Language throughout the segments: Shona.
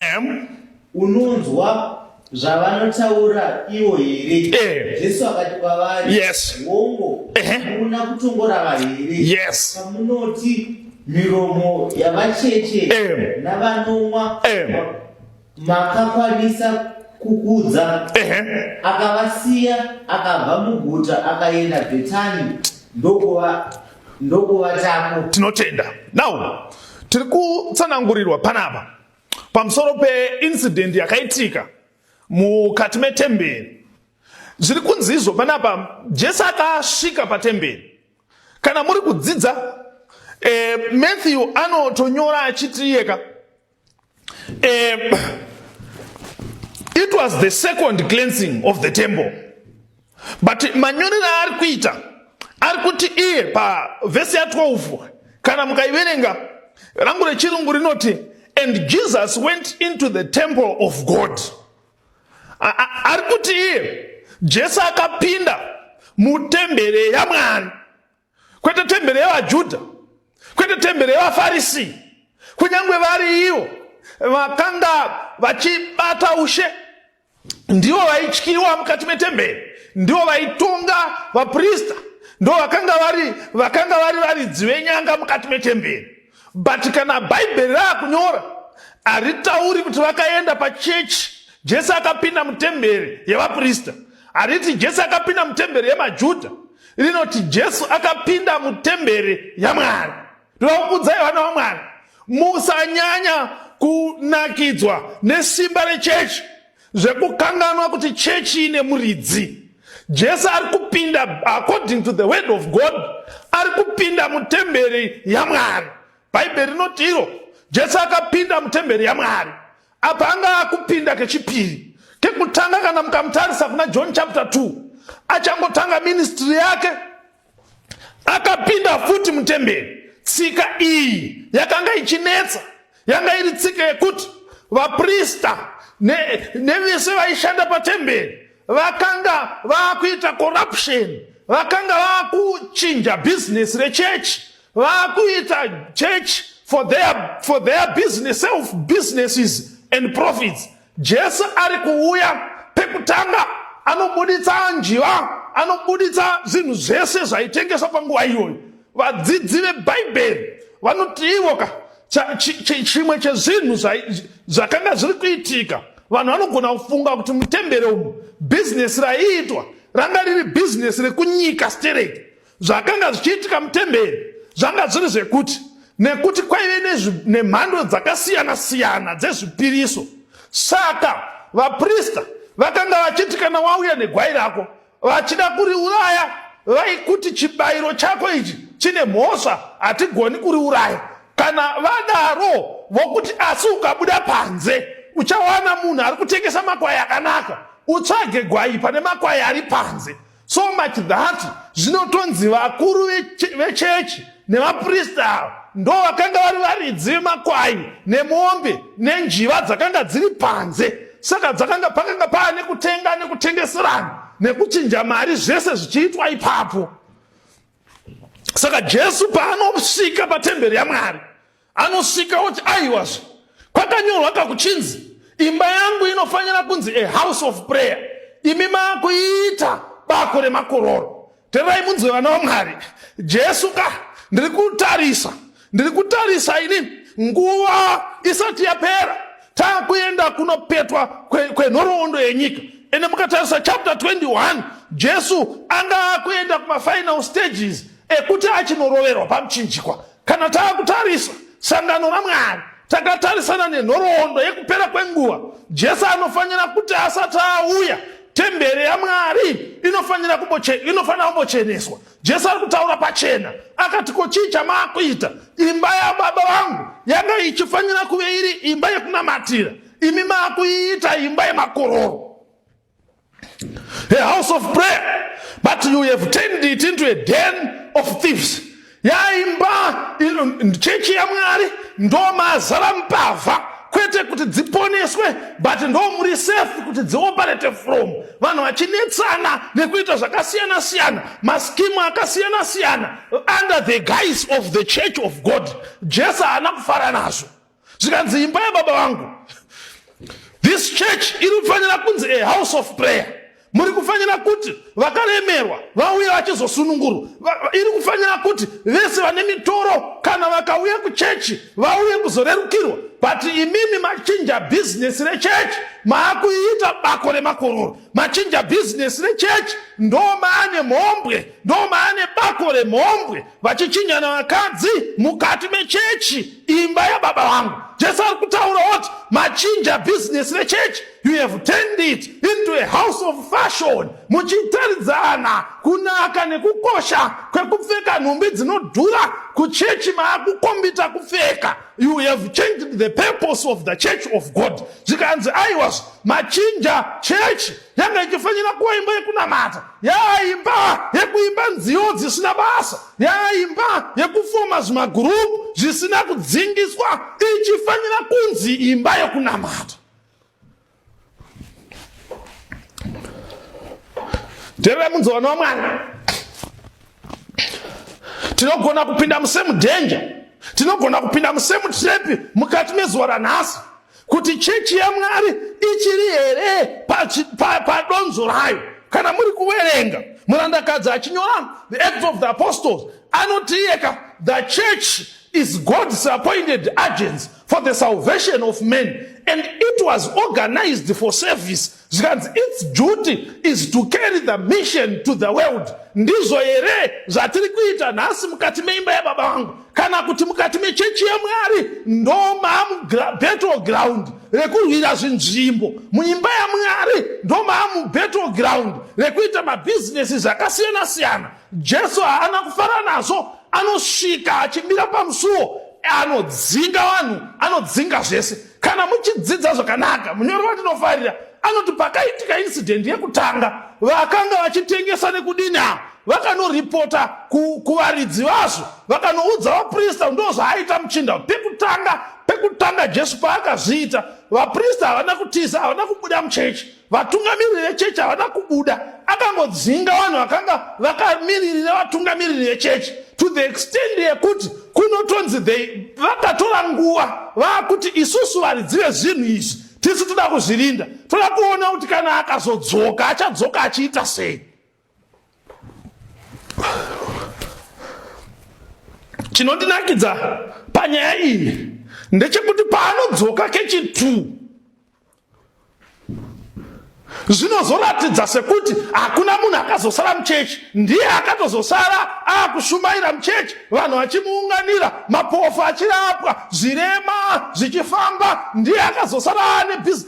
Ehm. Unonzwa zvavanotaura ivo here? Ehm. Jesu akati kwavari, yes. Hongo, hamuna ehm. kutongorava here? Yes. Pamunoti miromo yavacheche navanomwa makakwanisa kukudza akavasiya akabva muguta akaenda bhetani ndokuva ndokuvatapo tinotenda now tiri kutsanangurirwa panapa pamusoro peincident yakaitika mukati metemberi zviri kunzi izvo panapa jesu akasvika patemberi kana muri kudzidza e, matthew anotonyora achiti iyeka Um, it was the second cleansing of the temple but manyorero aari kuita ari kuti iye pavhesi ya12 kana mukaiverenga rangu rechirungu rinoti and jesus went into the temple of god ari kuti iye jesu akapinda mutembere yamwari kwete tembere yevaJudha, kwete tembere yevaFarisi, kunyange vari ivo vakanga vachibata ushe ndivo vaityiwa mukati metemberi ndivo vaitonga vaprista ndo vakanga vari vakanga vari varidzi venyanga mukati metemberi but kana bhaibheri raakunyora haritauri kuti vakaenda pachechi jesu akapinda mutemberi yevaprista hariti jesu akapinda mutemberi yemajudha rinoti jesu akapinda mutemberi yamwari ndoda kukudzai vana vamwari musanyanya kunakidzwa nesimba rechechi zvekukanganwa kuti chechi ine muridzi jesu ari kupinda according to the word of god ari kupinda mutemberi yamwari bhaibheri rinoti iro jesu akapinda mutemberi yamwari Apa anga akupinda kechipiri. Kekutanga kana mukamutarisa kuna John chapter 2, achangotanga ministry yake akapinda futi mutemberi. Tsika iyi yakanga ichinetsa, yanga iri tsika yekuti vaprista nevese ne vaishanda patemberi vakanga vakuita corruption, vakanga vakuchinja business rechechi vakuita church for their, for their business, self businesses and profits jesu ari kuuya pekutanga anobuditsa njiva anobuditsa zvinhu zvese zvaitengeswa panguva iyoyo vadzidzi vebhaibheri vanoti ivo ka chimwe chezvinhu zvakanga zviri kuitika vanhu vanogona kufunga kuti mutembere umu bhizinesi raiitwa ranga riri bhizinesi rekunyika stereki Zvakanga zvichiitika mutemberi zvanga zviri zvekuti nekuti kwaive nemhando dzakasiyana siyana dzezvipiriso saka vaprista vakanga vachiti kana wauya negwai rako vachida kuriuraya vaikuti chibayiro chako ichi chine mhosva hatigoni kuriuraya kana vadaro vokuti asi ukabuda panze uchawana munhu ari kutengesa makwai akanaka utsvage gwai pane makwai ari panze so much that zvinotonzi vakuru vechechi nevaprista ava ndo vakanga vari varidzi vemakwai nemombe nenjiva dzakanga dziri panze saka dzakanga pakanga paa nekutenga nekutengeserana nekuchinja mari zvese zvichiitwa ipapo saka jesu paanosvika patemberi yamwari Anosvika oti aiwazve kwakanyorwa kakuchinzi imba yangu inofanira kunzi a house of prayer imi maakuiita bako remakororo tererai munzwe vana vamwari jesu ka ndiri kutarisa ndiri kutarisa ini nguva isati yapera taakuenda kunopetwa kwenhoroondo kwe yenyika ende mukatarisa chapter 21 jesu anga akuenda kumafinal stages ekuti achinoroverwa pamuchinjikwa Kana taakutarisa sangano raMwari, takatarisana nenhoroondo yekupera kwenguva. Jesu anofanira kuti asati auya, temberi yaMwari inofanira kumbocheneswa. Jesu ari kutaura pachena, akati, Ko chii chamaakuita? Imba yaBaba vangu yanga ichifanira kuve iri imba yekunamatira, imi maakuiita imba yemakororo. a house of prayer but you have turned it into a den of thieves yaimba chechi yamwari ndomazara mbavha kwete kuti dziponeswe but ndomuri safe kuti dzioperate from vanhu vachinetsana nekuita zvakasiyana siyana maskimu akasiyana siyana under the guise of the church of god jesu haana kufara nazvo zvikanzi imba yababa vangu this church iri kufanira kunzi a house of prayer muri kufanira kuti vakaremerwa vauya vachizosunungurwa iri kufanira kuti vese vane mitoro kana vakauya kuchechi vauye kuzorerukirwa but imimi machinja bhizinesi rechechi maakuiita bako remakororo machinja bhizinesi rechechi ndo maane mhombwe ndo maane bako remhombwe vachichinyana vakadzi mukati mechechi imba yababa vangu jesu ari kutaura oti machinja bhizinesi rechechi you have turned it into a house of fashion muchitaridzana kunaka nekukosha kwekupfeka nhumbi dzinodhura kuchechi maakukombita kupfeka you have changed the purpose of the church of god zvikanzi aiwazvo machinja chechi yanga ichifanira kuva imba yekunamata yaa imba yekuimba nziyo dzisina basa yaa imba yekufoma zvimagurupu zvisina kudzingiswa ichifanira kunzi imba yekunamata terera munzovano wamwana tinogona kupinda musemudenja tinogona kupinda musemutrap mukati mezuva ranhasi kuti chechi yamwari ichiri here padonzo pa, pa rayo kana muri kuverenga murandakadzi achinyora the acts of the apostles anotiyeka the church is god's appointed agents for the salvation of men and it was organized for service zvikanzi its duty is to carry the mission to the world ndizvo here zvatiri kuita nhasi mukati meimba yababa vangu kana kuti mukati mechechi yamwari ndo maamubattle ground rekurwira zvinzvimbo muimba yamwari ndo maamubattle ground rekuita mabhizinesi zvakasiyana siyana jesu haana kufara nazvo anosvika achimira pamusuwo anodzinga vanhu anodzinga zvese Kana muchidzidza zvakanaka, munyori watinofarira anoti pakaitika incident yekutanga, vakanga vachitengesa nekudini ava vakanoripota kuvaridzi vazvo vakanoudza vaprista ndo zvaaita muchinda pekutanga pekutanga jesu paakazviita vaprista havana kutiza havana kubuda muchechi Vatungamiriri vechechi havana kubuda, akangodzinga vanhu vakanga vakamiririra vatungamiriri vechechi to the extent yekuti kunotonzi vakatora nguva vaakuti isusu varidzi vezvinhu izvi tisu toda kuzvirinda, toda kuona kuti kana akazodzoka achadzoka achiita sei. Chinondinakidza panyaya iyi ndechekuti paanodzoka kechi 2 zvinozoratidza sekuti hakuna munhu akazosara muchechi ndiye akatozosara akushumaira muchechi vanhu vachimuunganira mapofu achirapwa zvirema zvichifamba ndiye akazosara ane bhizi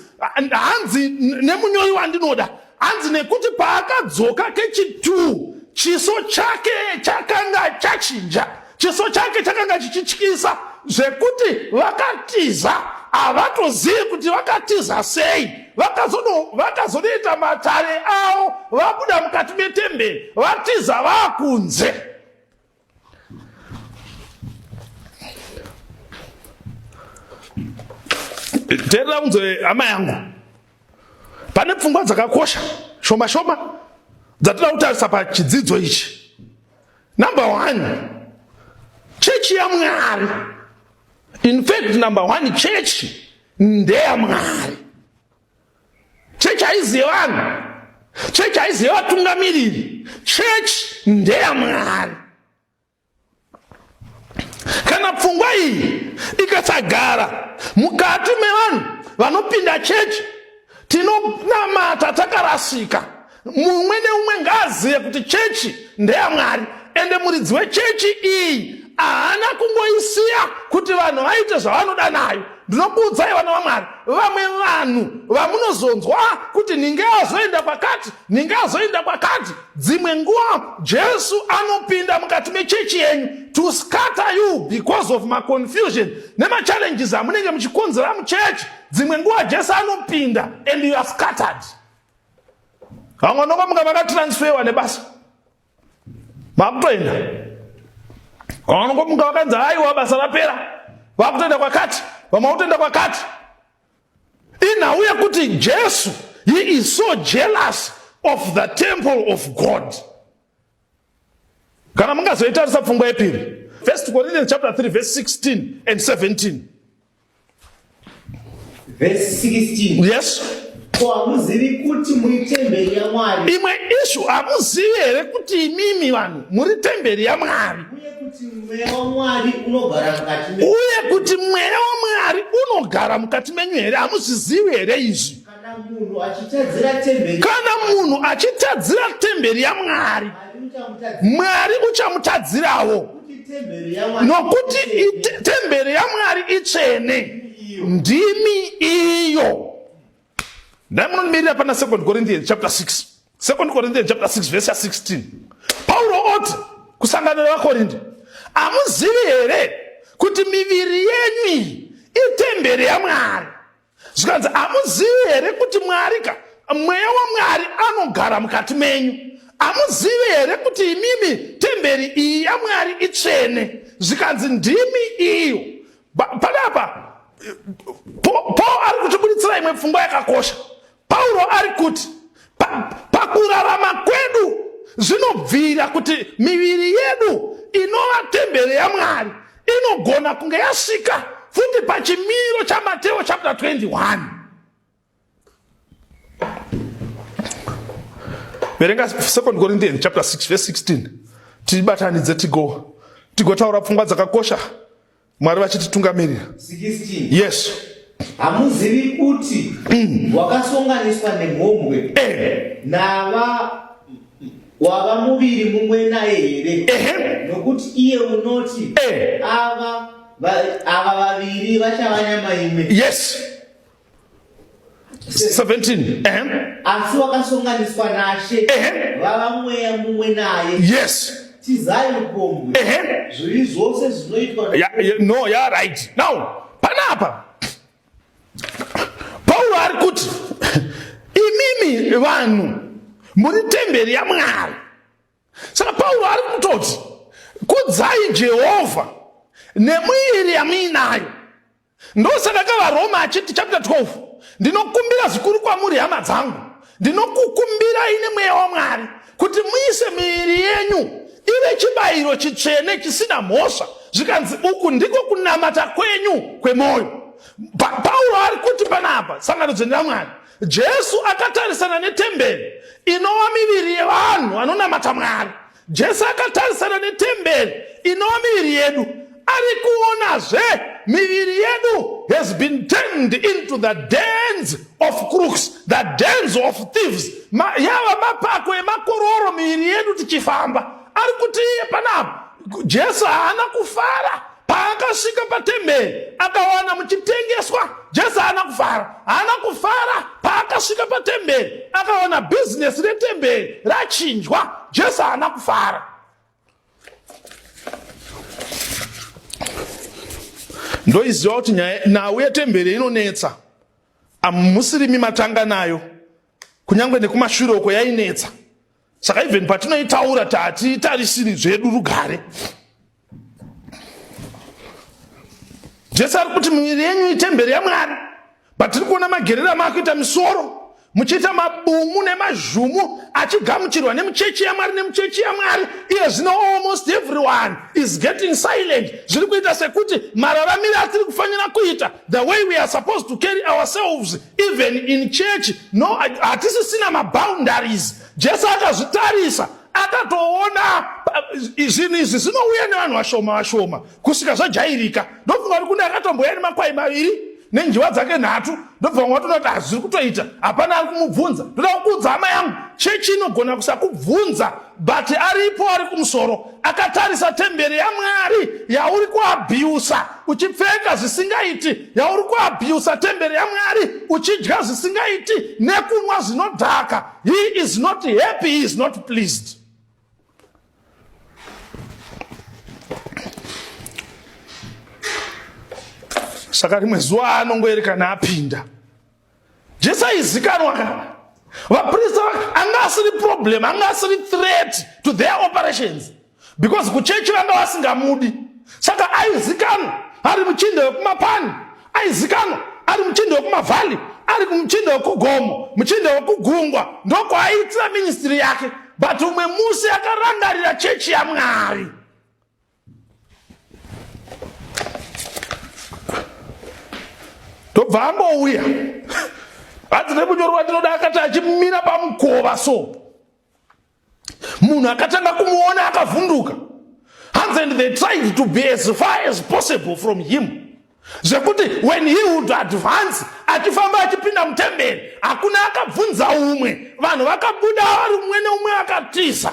hanzi nemunyori wandinoda hanzi nekuti paakadzoka kechitwo chiso chake chakanga chachinja chiso chake chakanga chichityisa zvekuti vakatiza havatozivi kuti vakatiza sei vakazonoita matare avo vabuda mukati metemberi vatiza vakunze terera unzwe hama yangu pane pfungwa dzakakosha shoma shoma dzatinoda kutarisa pachidzidzo ichi number one chechi yamwari in fact number one chechi ndeyamwari chechi haiziye vanhu chechi haiziye vatungamiriri chechi ndeyamwari kana pfungwa iyi ikasagara mukati mevanhu vanopinda chechi tinonamata takarasika Mumwe neumwe ngaazive kuti chechi ndeyaMwari ende muridzi wechechi iyi haana kungoisiya kuti vanhu vaite zvavanoda nayo. Ndinokuudzai vana vaMwari, vamwe vanhu vamunozonzwa kuti ninge azoenda kwakati, ninge azoenda kwakati, dzimwe nguva Jesu anopinda mukati mechechi yenyu to scatter you because of maconfusion nemachallenges amunenge muchikonzera muchechi. Dzimwe nguva Jesu anopinda and you are scattered. vamwe vanokomuka vakatransferwa nebasa vakutoenda vamwe vanokomuka vakanzi haiwa basa rapera vakutoenda kwakati vamwe vakutoenda kwakati inhau yekuti jesu he is so jealous of the temple of god kana mungazoitarisa pfungwa yepiri first corinthians chapter 3 verse 16 and 17 Verse 16. Yes. Ko hamuzivi kuti muri temberi yaMwari. Imwe ishu hamuzivi here kuti imimi vanhu muri temberi yaMwari. Uye kuti mweya waMwari unogara mukati menyu. Uye kuti mweya waMwari unogara mukati menyu here hamuzvizivi here izvi. Kana munhu achitadzira temberi yaMwari, Mwari uchamutadzirawo, nokuti temberi yaMwari itsvene, ndimi iyo. Dai munonimirira pana 2 Corinthians chapter 6, 2 Corinthians chapter 6 verse 16. Pauro oti kusangana nevaKorinde, hamuzivi here kuti miviri yenyu iyi itemberi yaMwari? zvikanzi hamuzivi here kuti mwari ka mweya wamwari anogara mukati menyu hamuzivi here kuti imimi temberi iyi yamwari itsvene zvikanzi ndimi iyo panapa paul ari kutibuditsira imwe pfungwa yakakosha Pauro ari kuti pakurarama pa kwedu zvinobvira kuti miviri yedu inova tembere yaMwari inogona kunge yasvika futi pachimiro chaMateo chapter 21 verenga 2 corinthians chapter 6 verse 16 tibatanidze tigo tigotaura pfungwa dzakakosha Mwari vachititungamirira. 16. Yes. Hamuzivi kuti mm. wakasonganiswa nemhombwe eh. nava wava muviri mumwe naye here? Eh. Nokuti iye unoti eh. ava ava vaviri vachava nyama imwe. Yes. 17 ehem asi wakasonganiswa nashe Ehe. vava mweya mumwe naye yes tizai upombwe ehe zvivi zvose zvinoitwa Ya- ya- no ya right now panapa pauro ari kuti imimi vanhu muri temberi yamwari saka pauro ari kutoti kudzai jehovha nemwiri yamuinayo Ndosaka ka vaRoma achiti chapter 12 ndinokumbira zvikuru kwamuri hama dzangu ndinokukumbirai nemweya waMwari kuti muise miiri yenyu ive chibayiro chitsvene chisina mhosva zvikanzi uku ndiko kunamata kwenyu kwemwoyo pa, pauro ari kuti panapa sangano dzvene ramwari jesu akatarisana netemberi inova miviri yevanhu vanonamata mwari Jesu akatarisana netemberi inova miviri yedu ari kuonazve miviri yedu has been turned into the dens of crooks the dens of thieves yava mapako emakororo miviri yedu tichifamba ari kuti iye panapa jesu haana kufara Paakasvika patemberi akawana muchitengeswa Jesu haana kufara, haana kufara. Paakasvika patemberi akawana bhizinesi retemberi rachinjwa, Jesu haana kufara. Ndoiziva kuti nhau yetemberi inonetsa, amusirimi matanga nayo, kunyange nekumashure uko yainetsa. saka even patinoitaura tatitarisiri zvedu rugare jesu ari kuti miviri yenyu itemberi yamwari but tiri kuona magerera maakuita misoro muchiita mabumu nemazhumu achigamuchirwa nemuchechi yamwari nemuchechi yamwari iye zvino almost everyone is getting silent zviri kuita sekuti mararamiro atiri kufanira kuita the way we are supposed to carry ourselves even in church no hatisisina maboundaries jesu akazvitarisa akatoona eh, zvinhu izvi zvinouya nevanhu vashoma vashoma kusvika zvajairika ndofunga kuti kune akatomboya nemakwai maviri nenjiwa dzake nhatu ndobva vamwe vatoona kuti hazviri kutoita hapana ari kumubvunza ndoda kukuudza hama yangu chechi inogona kusakubvunza but aripo ari kumusoro akatarisa temberi yamwari yauri kuabhiusa uchipfeka zvisingaiti yauri kuabhiusa temberi yamwari uchidya zvisingaiti nekunwa zvinodhaka he is not happy he is not pleased saka rimwe zuva anongoerekana apinda Jesu aizikanwa ka vaprista anga asiri problem anga asiri threat to their operations because kuchechi vanga vasingamudi saka aizikanwa ari muchinda wekumapani aizikanwa ari muchinda wekumavhali ari muchinda wekugomo muchinda wekugungwa ndokwaaitira ministiri yake but umwe musi akarangarira chechi yamwari ndobva angouya hanzi nemunyori wandinoda akati achimira pamukova so munhu akatanga kumuona akavhunduka hanzi and they tried to be as far as possible from him zvekuti when he would advance achifamba achipinda mutemberi hakuna akabvunza umwe vanhu vakabuda vari umwe neumwe akatiza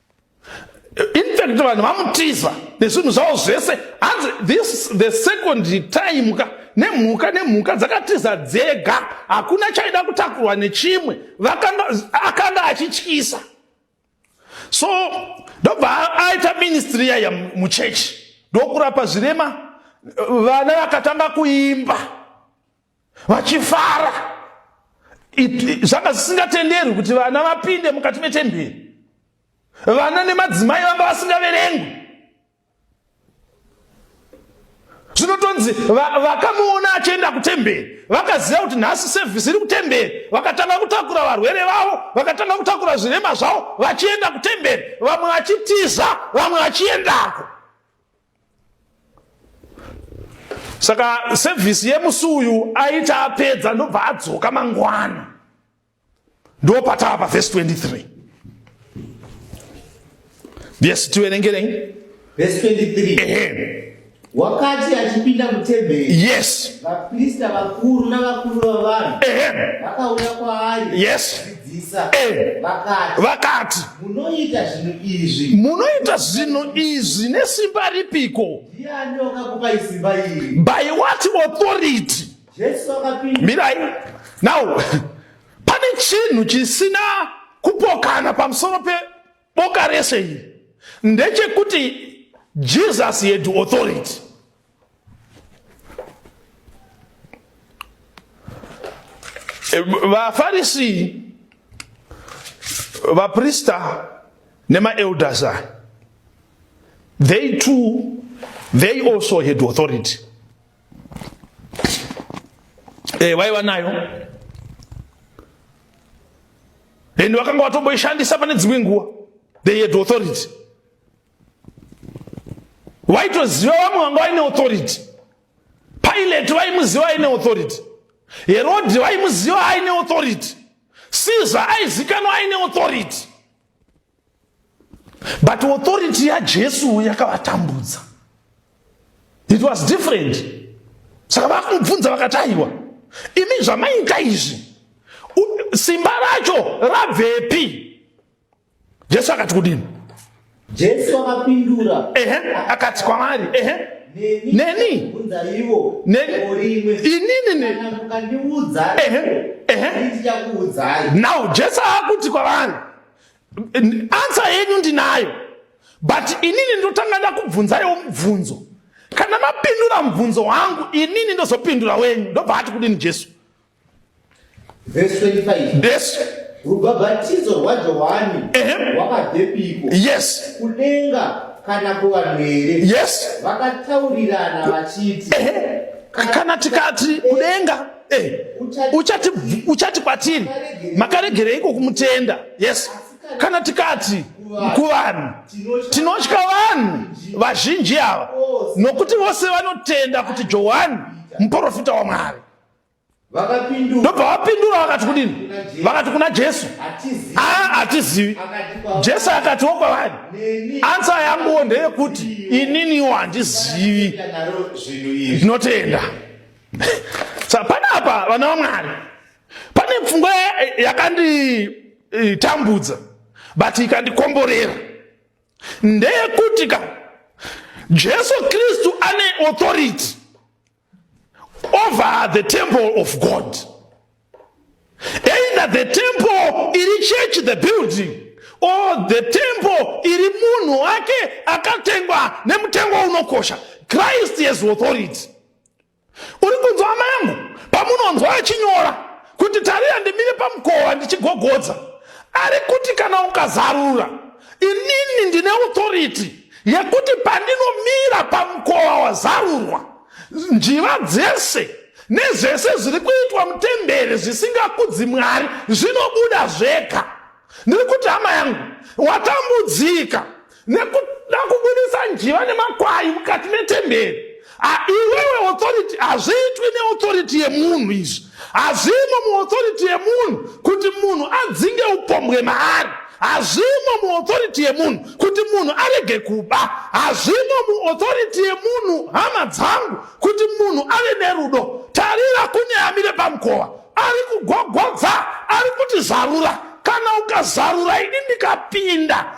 infact vanhu vamutiza nezvinhu zvavo zvese hanzi this the second time ka nemhuka nemhuka dzakatiza dzega hakuna chaida kutakurwa nechimwe akanga achityisa so ndobva aita ministry yaya muchechi ndokurapa zvirema vana vakatanga kuimba vachifara zvanga zvisingatenderwi kuti vana vapinde mukati metemberi vana nemadzimai vanga vasingaverengwi zvinotonzi vakamuona achienda kutemberi vakaziva kuti nhasi sevhisi iri kutemberi vakatanga kutakura varwere vavo vakatanga kutakura zvirema zvavo vachienda kutemberi vamwe vachitiza vamwe vachiendako saka sevhisi yemusi uyu aita apedza ndobva adzoka mangwana ndo patava pavhesi 23 yes tiverengerei vhesi 23 ehe wakati achipinda mutemberi yes vaprista vakuru navakuru vavanhu ehe vakauya kwaari yes vakati munoita zvinhu izvi munoita zvinhu izvi nesimba ripiko by what authority mirai now pane chinhu chisina kupokana pamusoro pe Boka rese iri ndechekuti Jesus had authority. Eh, vafarisi vaprista nemaelders aya they too they also had authority e eh, vaiva nayo and vakanga vatomboishandisa pane dzimwe nguva they had authority vaitoziva vamwe vanga vaine authority pilate vaimuziva aine authority herodhi vaimuziva aine authority caesar aizikanwa aine authority but authority yajesu yakavatambudza it was different saka vakumubvunza vakati aiwa imi zvamaita izvi simba racho rabvepi jesu akati kudini jesu akapindura ehe akati kwavari ehe neni inini now jesu akuti kwavari Ansa yenyu ndinayo but inini ndotanga ndakubvunzaiwo mubvunzo kana mapindura mubvunzo wangu inini ndozopindura wenyu ndobva ati kudini jesu jesu rubhabhatidzo rwajohani rwakadepiko yes kudenga kana kuvanhu here yes vakataurirana vachiti kana tikati kudenga Eh, uchati uchati kwatiri makaregereiko kumutenda yes kana tikati kuvanhu tinotya vanhu vazhinji ava nokuti vose vanotenda kuti johani muprofita wamwari ndobva vapindura vakati kudini vakati kuna jesu aa hatizivi jesu akati wo kwavari ansa yanguwo ndeyekuti ininiwo handizivi ndinotenda sa panapa vana vamwari pane pfungwa yakanditambudza but ikandikomborera ndeyekuti ka jesu kristu ane authority over the temple of god either the temple iri church the building or the temple iri munhu wake akatengwa nemutengo unokosha christ has authority uri kunzwa hama yangu pamunonzwa achinyora kuti tariya ndimire pamukova ndichigogodza ari kuti kana ukazarura inini ndine authority yekuti pandinomira pamukova wazarurwa njiva dzese nezvese zviri kuitwa mutembere zvisingakudzi mwari zvinobuda zvega ndiri kuti hama yangu watambudzika nekuda kubudisa njiva nemakwai mukati metemberi iwewe authority hazviitwi neauthority yemunhu izvi hazvimo muauthority yemunhu kuti munhu adzinge upombwe maari hazvimo muauthority yemunhu kuti munhu arege kuba hazvimo muauthority yemunhu hama dzangu kuti munhu ave nerudo tarira kune amire pamukova ari kugogodza ari kuti zarura kana ukazarura ini ndikapinda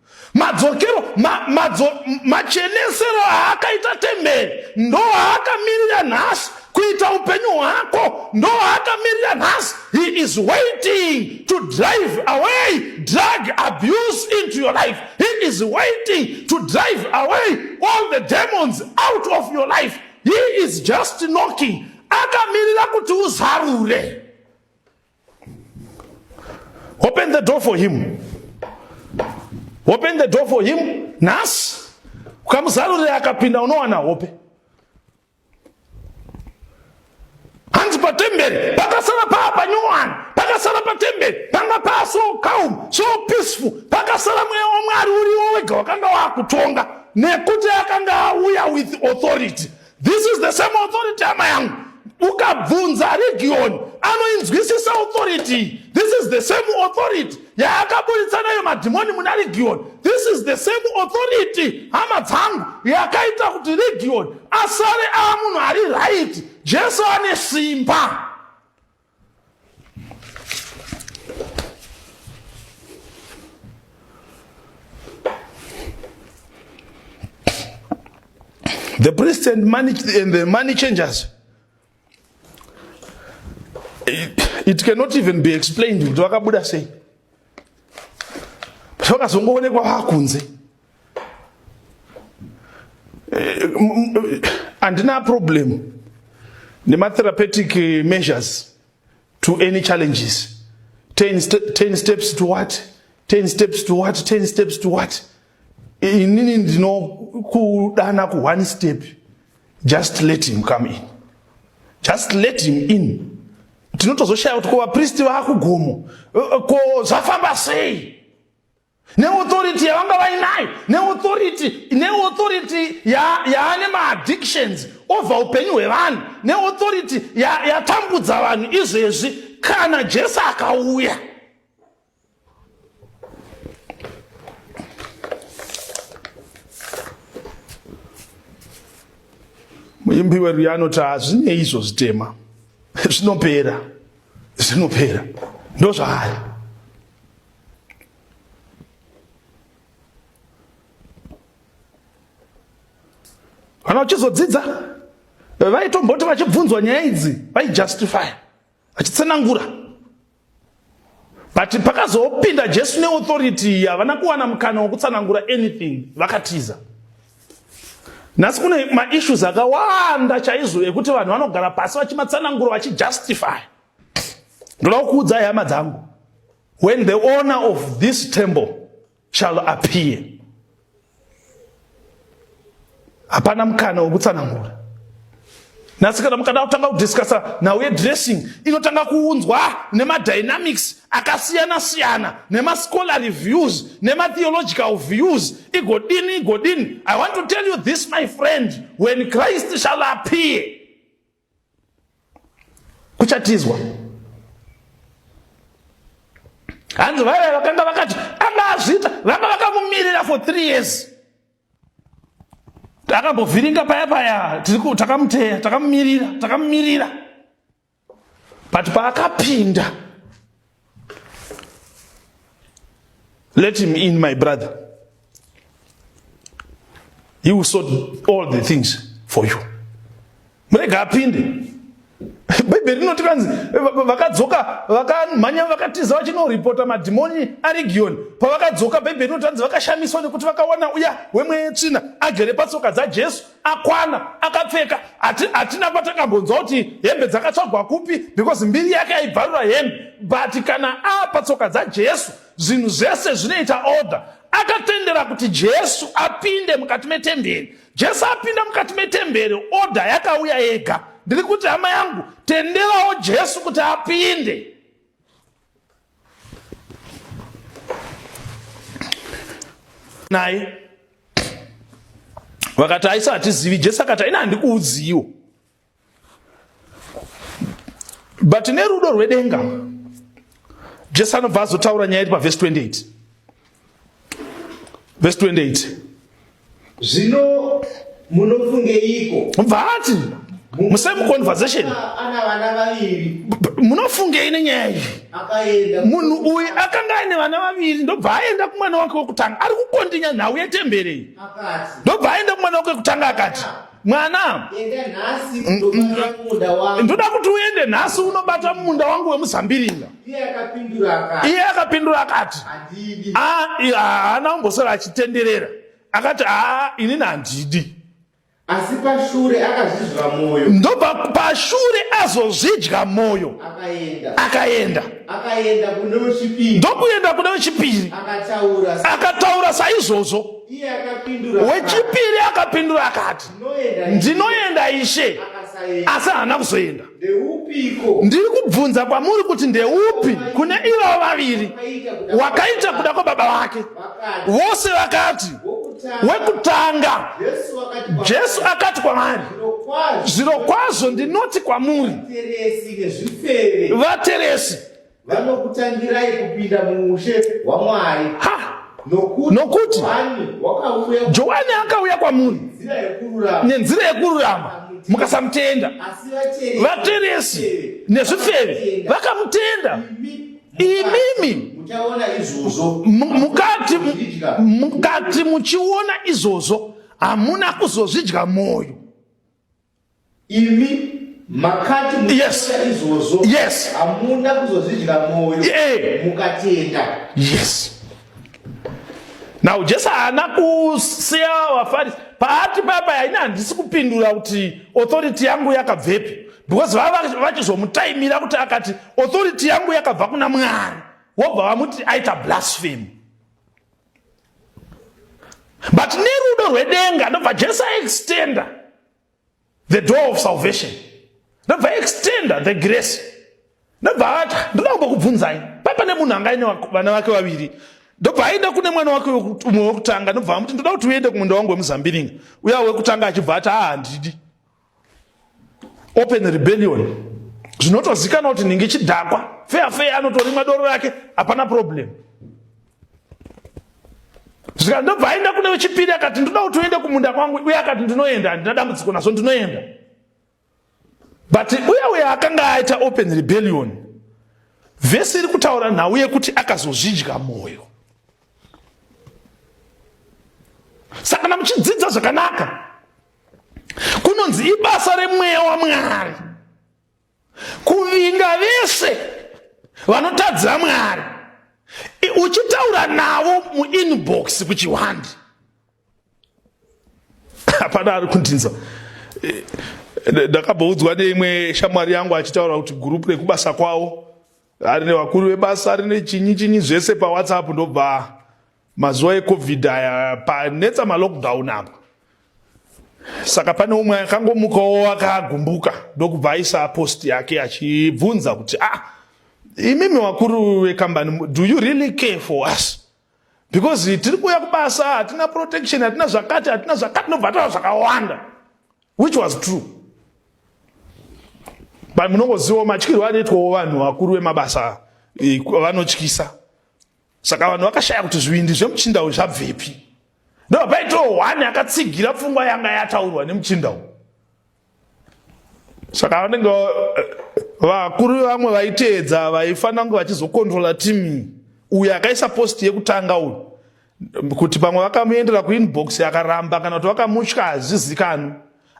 Madzokero ma, madzo, machenesero aakaita temberi ndo aakamirira nhasi kuita upenyu hwako ndo aakamirira nhasi he is waiting to drive away drug abuse into your life he is waiting to drive away all the demons out of your life he is just knocking akamirira kuti uzarure open the door for him open the door for him nhasi ukamuzarurire akapinda unowana hope hanzi patemberi pakasara paa panyowani pakasara patemberi panga paa so calm so peaceful pakasara mweya wamwari uriwo wega wakanga wakutonga nekuti akanga auya with authority This is the same authority hama yangu. Ukabvunza region anoinzwisisa authority. This is the same authority yaakaburitsa nayo madhimoni muna region. This is the same authority hama dzangu yakaita kuti region asare aamunhu ari right. Jesu ane simba. The priests and, money, and the money changers. It, it cannot even be explained kuti vakabuda sei. Vakazongoonekwa vakunze. eh, handina problem nematherapeutic measures to any challenges 10, st 10 steps to what 10 steps to what 10 steps to what inini ndinokudana ku one step just let him come in just let him in tinotozoshaya kuti ko vapristi vakugomo eh, eh, ko zvafamba sei neauthority yavanga vainayo neauthority neauthority yaane maaddictions ova upenyu hwevanhu neauthority yatambudza ya vanhu izvezvi kana jesu akauya muimbi weruye anoti hazvinei izvo zvitema zvinopera zvinopera ndozvaari kana vachizodzidza vaitomboti vachibvunzwa nyaya idzi vaijustify vachitsenangura but pakazopinda jesu neauthority havana kuwana mukana wokutsanangura anything vakatiza nhasi kune maissues akawanda chaizvo ekuti vanhu vanogara pasi vachimatsanangura vachijustify ndoda kukuudzai hama dzangu when the owner of this temple shall appear hapana mukana wekutsanangura nhasi kana mukada kutanga kudiscussa nhau yedressing inotanga kuunzwa nemadynamics akasiyana siyana nemascholarly views nematheological views igodini igodini i want to tell you this my friend when christ shall appear kuchatizwa hanzi vaiva vakanga vakati anga azviita vanga vakamumirira for three years akambovhiringa paya paya takamuteya takamumirira takamumirira but paakapinda Let him in, my brother. He will sort all the things for you. Murega apinde. Bhaibheri rinoti kanzi vakadzoka vakamhanya vakatiza vachinoripota madhimoni arigiyoni. Pavakadzoka Bhaibheri rinoti kanzi vakashamiswa nekuti vakawana uya wemwetsvina agere patsoka dzaJesu akwana akapfeka hatina kwatangambonzwa kuti hembe dzakatsvagwa kupi because mbiri yake aibvarura hembe but kana apa tsoka dzajesu zvinhu zvese zvinoita order akatendera kuti jesu apinde mukati metemberi jesu apinda mukati metemberi order yakauya yega ndiri kuti hama yangu tenderawo jesu kuti apinde naye vakati aisa hatizivi jesu akati aina handikuudziyiwo but nerudo rwedenga jesu anobva azotaura nyaya iri pavhesi 28 Verse 28. Zvino munofungeiko? Vati mu same conversation munofungei nenyaya iyi munhu uyu akanga aine vana vaviri ndobva aenda kumwana wake wekutanga ari kukondinya nhau yetemberi ndobva aenda kumwana wake wekutanga akati mwana ndoda kuti uende nhasi unobata mumunda wangu wemuzambiringa iye akapindura akati ah, haana kumbosara achitenderera akati aa ah, inini handidi asi pashure akazvidya mwoyo ndobva pashure azozvidya mwoyo akaenda akaenda kune wechipiri ndokuenda kune wechipiri akataura saizvozvo wechipiri akapindura akati ndinoenda ishe asi haana kuzoenda ndiri kubvunza kwamuri kuti ndeupi kune ivo vaviri wakaita kuda kwababa vake vose vakati wekutanga jesu akati kwavari zviro kwazvo ndinoti kwamuri vateresi vanokutangirai kupinda muushe hwaMwari nokuti Johani akauya kwamuri nenzira yekururama mukasamutenda vateresi nezvifeve vakamutenda imimi mukati muchiona izvozvo hamuna kuzozvidya mwoyo imi makati yes. izvozvo yes. hamuna kuzozvidya mwoyo yeah. mukatenda yes now jesu haana kusiya vafarisi paati baba yaini handisi kupindura kuti authority yangu yakabvepi because vava vachizomutaimira kuti akati authority yangu yakabva kuna mwari wobva vamuti aita blasphemy but nerudo rwedenga ndobva jesu aextenda the door of salvation ndobva aextenda the grace ndobva ati ndoda kumbo kubvunzai papa nemunhu anga aine vana vake vaviri ndobva aenda kune mwana wake umwe wekutanga ndobva amuti ndoda kuti uende kumunda wangu wemuzambiringa uya wekutanga achibva ati aa handidi open rebellion zvinotozikana kuti ningi chidhakwa feya feya anotorimwa doro rake hapana problem zvika ndobva aenda kune wechipiri akati ndinoda kuti uende kumunda kwangu uye akati ndinoenda handina dambudziko nazvo ndinoenda but uye uye akanga aita open rebellion vhesi iri kutaura nhau yekuti akazozvidya mwoyo saka kana muchidzidza zvakanaka kunonzi ibasa remweya wamwari kuvinga vese vanotadza mwari uchitaura navo muinbox kuchihwandi hapana ari kundinza eh, ndakaboudzwa neimwe shamwari yangu achitaura kuti gurupu rekubasa kwavo ari nevakuru vebasa ari nechinyi chinyi zvese pawhatsapp ndobva mazuva ecovid aya panetsa malockdown apa saka pane umwe akangomukawo akagumbuka ndokubva aisa post yake achibvunza kuti ah imimi wakuru vekambani do you really care for us because tiri kuuya kubasa hatina protection hatina zvakati hatina zvakati nobvataura zvakawanda which was true but munongozivawo matyirwo anoitwawo vanhu vakuru vemabasa vanotyisa saka vanhu vakashaya kuti zvivindi zvemuchinda uyu zvabvepi ndoba paitoo one akatsigira pfungwa yanga yataurwa nemuchinda uyu saka vanenge eh, vakuru vevamwe vaiteedza vaifanira kunge vachizokontrola timu uyo akaisa posti yekutanga uyu kuti pamwe vakamuendera kuinbox akaramba kana kuti vakamutya hazvizikanwi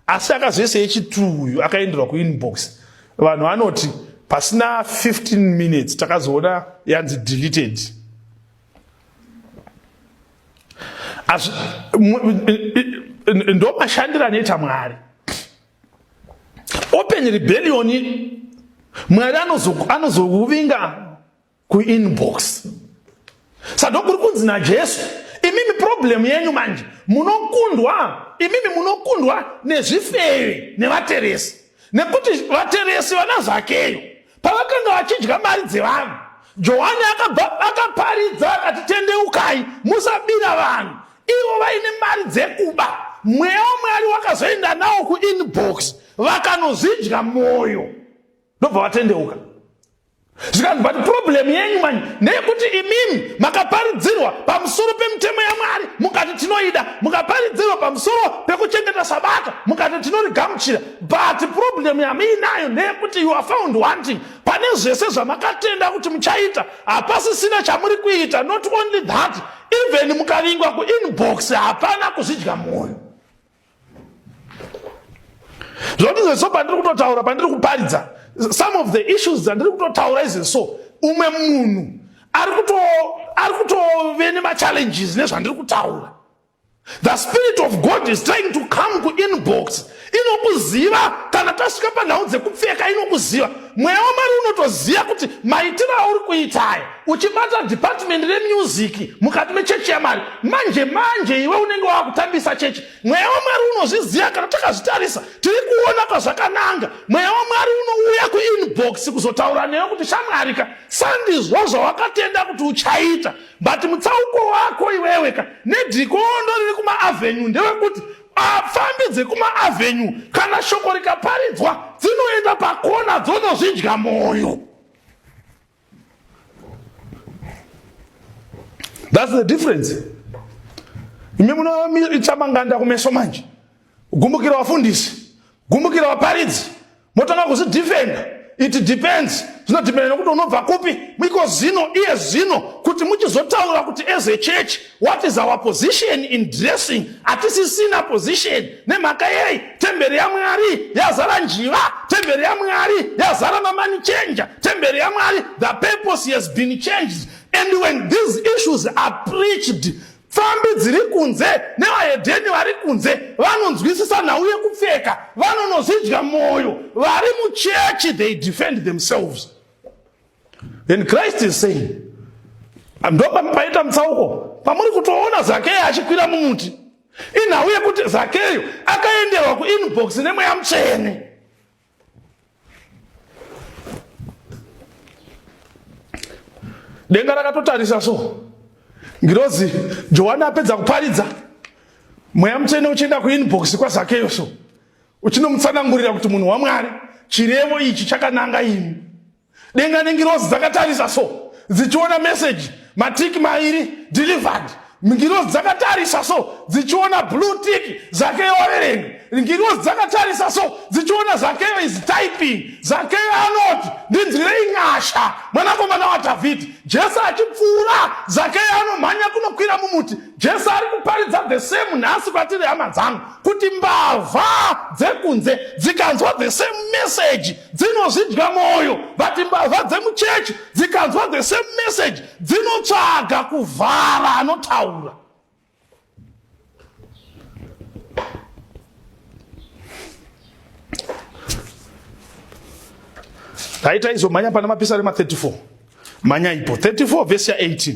Asi akazoisa yechituru uyu akaenderwa kuinbox vanhu anoti pasina 15 minutes takazoona yanzi deleted As, ndo mashandiro anoita mwari open rebellion mwari anozouvinga kuinbox sado kuri kunzi najesu imimi problemu yenyu manje munokundwa imimi munokundwa nezvifeve nevateresi nekuti vateresi vana zvakeyo pavakanga vachidya mari dzevanhu johani akaparidza akati tendeukai musabira vanhu ivo vaine mari dzekuba mweya wamwari wakazoenda nawo kuinbox vakanozvidya mwoyo ndobva vatendeuka zvikanzi but problem yenyu mani ndeyekuti imimi makaparidzirwa pamusoro pemitemo yamwari mukati tinoida mukaparidzirwa pamusoro pekuchengeta sabata mukati tinorigamuchira but problem yamuinayo ndeyekuti you are found wanting pane zvese zvamakatenda kuti muchaita hapasisina chamuri kuita not only that even mukavingwa kuinbox hapana kuzvidya mwoyo zvoti izvezvo pandiri kutotaura pandiri kuparidza some of the issues dzandiri kutotaura izvezvo umwe munhu ari kutove nemachallenges nezvandiri kutaura the spirit of god is trying to come kuinbox inokuziva kana tasvika panhau dzekupfeka inokuziva mweya wamari unotoziva kuti maitiro auri kuitaya uchibata department remusic mukati mechechi yamwari manje manje iwe unenge wava kutambisa chechi mweya wamwari unozviziva kana takazvitarisa tiri kuona kwazvakananga mweya wamwari unouya kuinbox kuzotaura newe kuti shamwarika sandizvo zvawakatenda kuti uchaita but mutsauko wako iweweka nedhikondo riri kumaavenue ndewekuti apfambi dzekumaavenue kana shoko rikaparidzwa dzinoenda pakona dzonozvidya mwoyo That's the difference. Imi munoita manganda kumeso manje. Gumbukira wafundisi, gumbukira waparidzi. Motanga kuzvidefenda. It depends. Zvinodependa nekuti unobva kupi. Miko zino iye zino kuti muchizotaura kuti as a church What is our position in dressing? Hatisisina position. Nemhaka yei? Temberi yaMwari yazara njiva. Temberi yaMwari yazara mamani changer. Temberi yaMwari, the purpose has been changed. And when these issues are preached, pfambi dziri kunze nevahedheni vari kunze vanonzwisisa nhau yekupfeka vanonozvidya mwoyo vari muchechi they defend themselves And Christ is saying, ndopa paita mutsauko pamuri kutoona Zakeyo achikwira mumuti. Inhau yekuti Zakeyo akaenderwa kuinbox nemweya mutsvene. Denga rakatotarisa so. Ngirozi Johani apedza kuparidza mweya mutsvene uchienda kuinbox kwaZakeyo so. Uchinomutsanangurira kuti munhu waMwari chirevo ichi chakananga imi. denga nengirozi dzakatarisa so dzichiona meseji matiki mairi delivered ngirozi dzakatarisa so dzichiona blue tiki zakeyo waverenga ngirozi dzakatarisa so dzichiona zakeyo is typing zakeyo anoti ndinzwirei nyasha mwanakomana wadhavhidhi jesu achipfuura zakeyo anomhanya kunokwira mumuti Jesu ari kuparidza the same nhasi kwatiri hama dzangu kuti mbavha dzekunze dzikanzwa the same message dzinozvidya mwoyo but mbavha dzemuchechi dzikanzwa the same message dzinotsvaga kuvhara anotaura taita izomhanya pana mapisari ma34 manyaipo 34 vhesi ya 18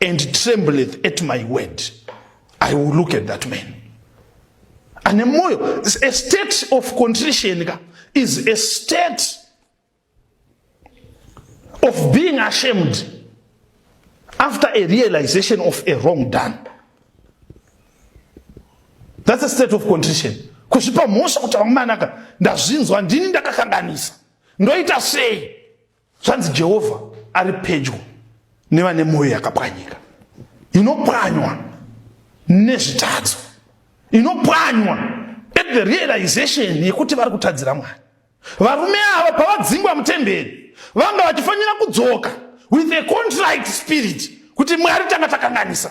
and trembleth at my word i will look at that man ane mwoyo a state of contrition ka is a state of being ashamed after a realization of a wrong done that's a state of contrition kuzvipa mhosva kuti vamwe manaka ndazvinzwa ndini ndakakanganisa ndoita sei zvanzi jehovha ari pedyo nevane mwoyo yakapwanyika inopwanywa nezvitadzo inopwanywa at the realization yekuti vari kutadzira mwari varume ava pavadzingwa mutemberi vanga vachifanira kudzoka with a contrite spirit kuti mwari tanga takanganisa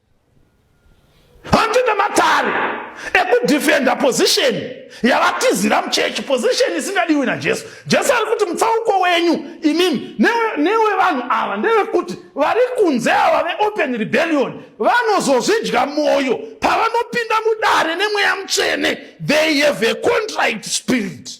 handine matare ekudefenda position yavatizira muchechi position isingadiwi najesu jesu ari kuti mutsauko wenyu imimi newevanhu ava ndevekuti vari kunze ava veopen rebellion vanozozvidya mwoyo pavanopinda mudare nemweya mutsvene they have a contract spirit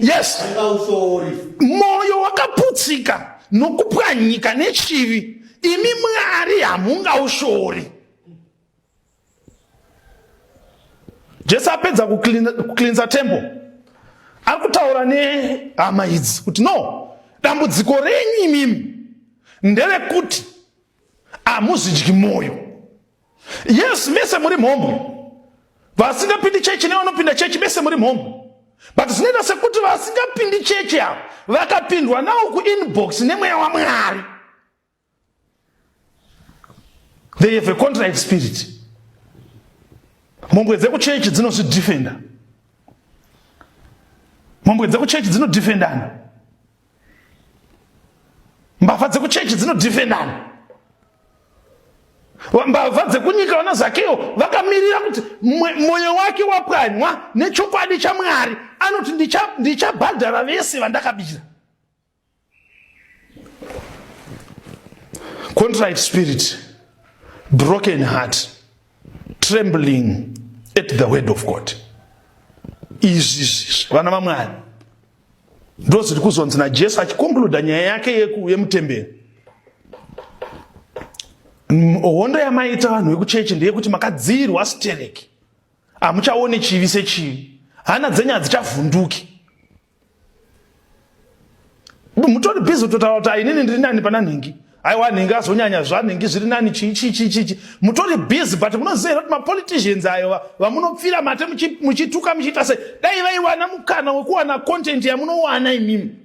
yes mwoyo wakaputsika nokupwanyika nechivi imi mwari hamungaushori jesu apedza kuclinsa temple ari kutaura nehama idzi kuti no dambudziko renyu imimi nderekuti hamuzvidyi mwoyo Yes, mese muri mhombwe. Vasingapindi chechi nevanopinda chechi mese muri mhombwe. But zvinoita sekuti vasingapindi chechi ava vakapindwa nawo kuinbox nemweya waMwari. They have a contract spirit. Mhombwe dzekuchechi dzinozvidefenda. Mhombwe dzekuchechi dzinodefendana. Mbavha dzekuchechi dzinodefendana. Mbavha dzekunyika vana Zakeo vakamirira kuti mwoyo wake wapwanywa nechokwadi chaMwari. Anoti ndichabhadhara ndicha vese vandakabira. Contrite spirit, broken heart, trembling at the word of God. Izvi vana vaMwari ndozviri kuzonzi najesu achikonkluda nyaya yake yemutemberi hondo yamaita vanhu vekuchechi ndeyekuti makadziirwa stereki hamuchaone chivi sechivi hana dzenyu hadzichavhunduki mutori bhizi kutotaura kuti ainini ndiri nani pana nhingi aiwa anenge azonyanya zvanenge zviri nani chichichichichi mutori busy but munoziva here kuti mapoliticians ayo vamunopfira mate muchituka muchiita sei dai vaiwana mukana wekuwana content yamunowana imimi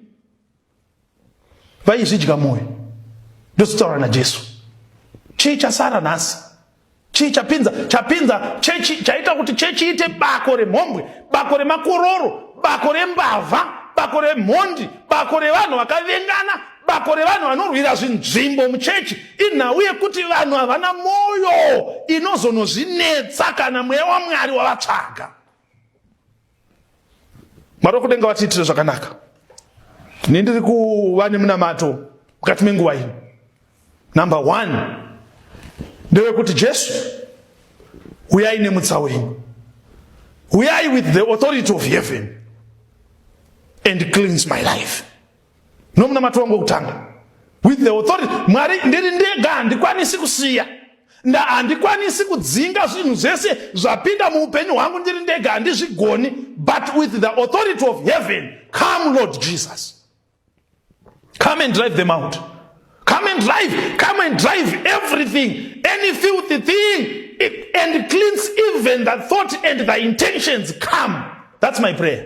vaizvidya mwoyo ndozotaura najesu chii chasara nhasi chii chapinza chapinza chechi chaita kuti chechi ite bako remhombwe bako remakororo bako rembavha bako remhondi bako revanhu vakavengana bako revanhu vanorwira zvinzvimbo muchechi inhau yekuti vanhu havana mwoyo inozonozvinetsa kana mweya wamwari wavatsvaga Mwari wekudenga vatiitire zvakanaka. Ini ndiri kuva nemunamato mukati menguva ino. Number one ndewekuti Jesu uyai nemutsa wenyu. Uyai with the authority of heaven and cleanse my life. nomunamato wangu wokutanga with the authority mwari ndiri ndega handikwanisi kusiya nda handikwanisi kudzinga zvinhu zvese zvapinda muupenyu hwangu ndiri ndega handizvigoni but with the authority of heaven come lord jesus come and drive them out come and drive come and drive everything any filthy thing and cleans even the thought and the intentions come that's my prayer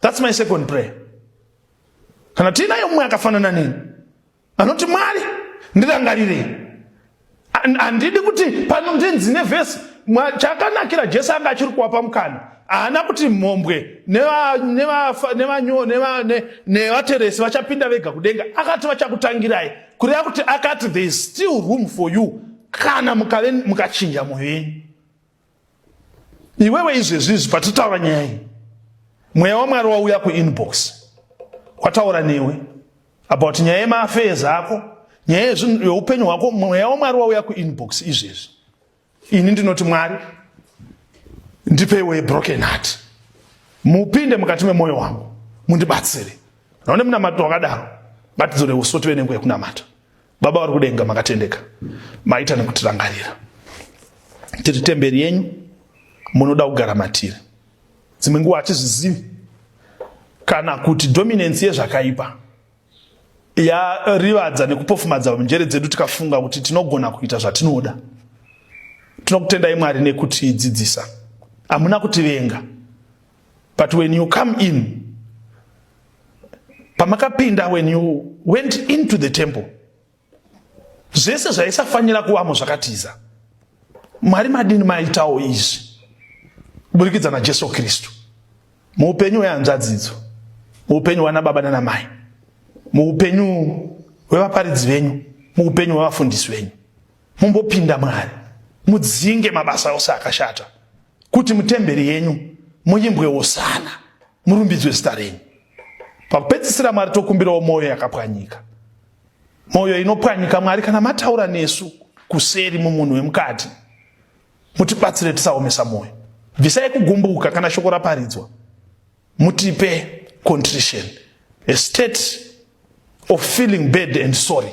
That's my second prayer. Kana tinaye umwe akafanana neni anoti Mwari ndirangarirei. Handidi kuti pano ndinzi nevhesi chakanakira Jesu anga achiri kuwapa mukana haana kuti mhombwe nevateresi vachapinda vega kudenga akati vachakutangirai kureva kuti akati there is still room for you kana mukachinja mwoyo yenyu iwewe izvezvi izvi patitaura nyaya iyi mweya wamwari wauya kuinbox wataura newe about nyaya yemaafees ako nyaya yeupenyu hwako mweya wamwari wauya kuinbox izvezvi ini ndinoti mwari ndipeiwe broken heart mupinde mukati memwoyo wangu mundibatsire naone munamato wakadaro ngatidzore uso tive nenguva yekunamata Baba vari kudenga makatendeka, maita nekutirangarira. Tiri temberi yenyu, munoda kugara matiri. Dzimwe nguva hatizvizivi kana kuti dominance yezvakaipa yarivadza nekupofumadza njere dzedu tikafunga kuti tinogona kuita zvatinoda. Tinokutendai Mwari nekutidzidzisa, hamuna kutivenga. but when you come in pamakapinda when you went into the temple zvese zvaisafanira kuvamo zvakatiza mwari madini maitawo izvi kuburikidza najesu kristu muupenyu hwehanzvadzidzo muupenyu hwana baba nana mai muupenyu hwevaparidzi venyu muupenyu hwevafundisi venyu mumbopinda mwari mudzinge mabasa ose akashata kuti mutemberi yenyu muimbwe wosana murumbidzwe zita renyu pakupedzisira mwari tokumbirawo mwoyo yakapwanyika mwoyo inopwanyika mwari kana mataura nesu kuseri mumunhu wemukati mutibatsire tisaomesa mwoyo bvisai kugumbuka kana shoko raparidzwa mutipe contrition a state of feeling bad and sorry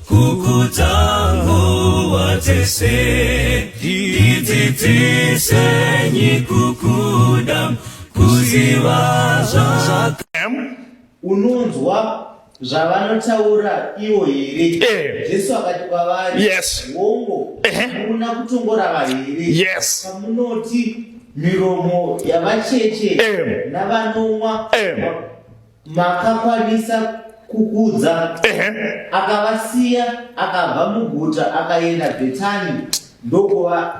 kukutango watese ndidzidzise nyikukuda kuziva zvaka unonzwa zvavanotaura ivo here eh. jesu akati kwavari yes. hongo hamuna eh. kutongorava here yes. pamunoti miromo yavacheche eh. navanomwa eh. makakwanisa kukudza akavasiya akabva muguta akaenda bhetani ndokuva